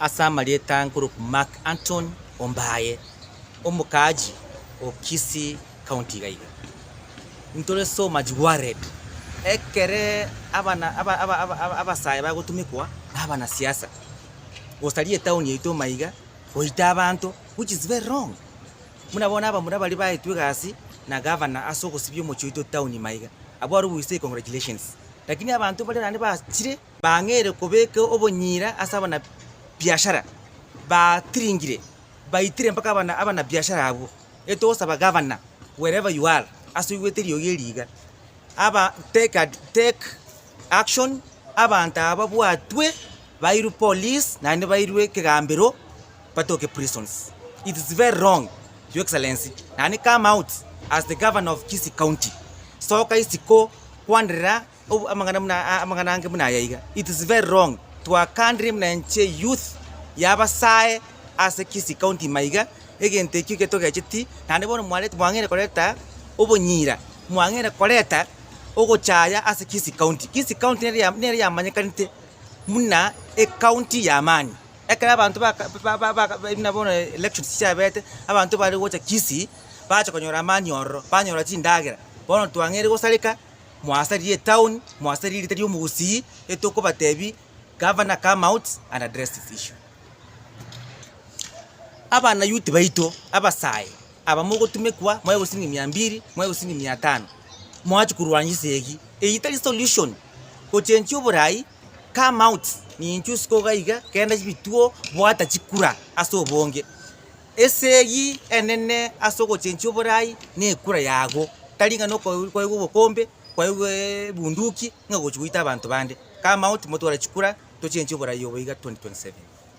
Ase amarieta nkoroku Mark Antony Ombaye, omokaaji o Kisii County iga iga. Ntore soma chiwarred. Ekere abana aba aba aba aba abasae bagotumekwa na abana siasa gosaria etaoni yaito maiga goita abanto which is very wrong. Buna bono abamura baria baetwe egasi na gavana ase ogosibia omochie oito town ime aiga, abwo are ogoisa econgratulations. Lakini abanto baria naende bachire bang'eire kobeka obonyira ase abana biashara, batiringire, baitire mpaka abana abana biashara abwo. Ere togosaba gavana wherever you are ase oigwete eriogi eri iga, aba take ad take action abanto aba babwatwe bairwe police naende bairwe ekegambero. batoke prisons. It is very wrong your excellency nani come out as the governor of Kisii county soka isiko kwanderera obu- amang'ana muna- a- amang'ana ange buna aya iga. It is very wrong twakandire buna enche youth yabasae ase Kisii county ime iga egento ekio ekio togecheti naende bono mwareti mwang'eire koreta obonyira mwang'eire koreta ogochaya ase Kisii county. Kisii county nere ya- nere yamanyekanete buna ecounty y'amani. Ekero abanto baka ba- ba- ba- ba buna bono elections chiabete, abanto bare gocha Kisii, bacha konyora amani ororo, banyora chindagera, bono twang'eire gosareka, mwasaririe etown, mwasaririe erieta ria omogusii, etokobatebi, Governor come out and address this issue. Abana youth baito, abasae, aba mogotumekwa, mwaigwa siringi mia mbiri, mwaigwa siringi mia tano, mwachia korwania ase eyio, eyio tari solution, gochenchia oborai, Come out, ninchuo isiko iga iga, genda chibituo, bwata chikura ase obonge. Ese eyio enene ase ogochenchia oborai nekura yago, tari ng'a noko kwaigwa obokombe, kwaigwa ebunduki ng'a ogochia goita abanto bande. Come out motware chikura, tochenchie oborai obo iga 2027.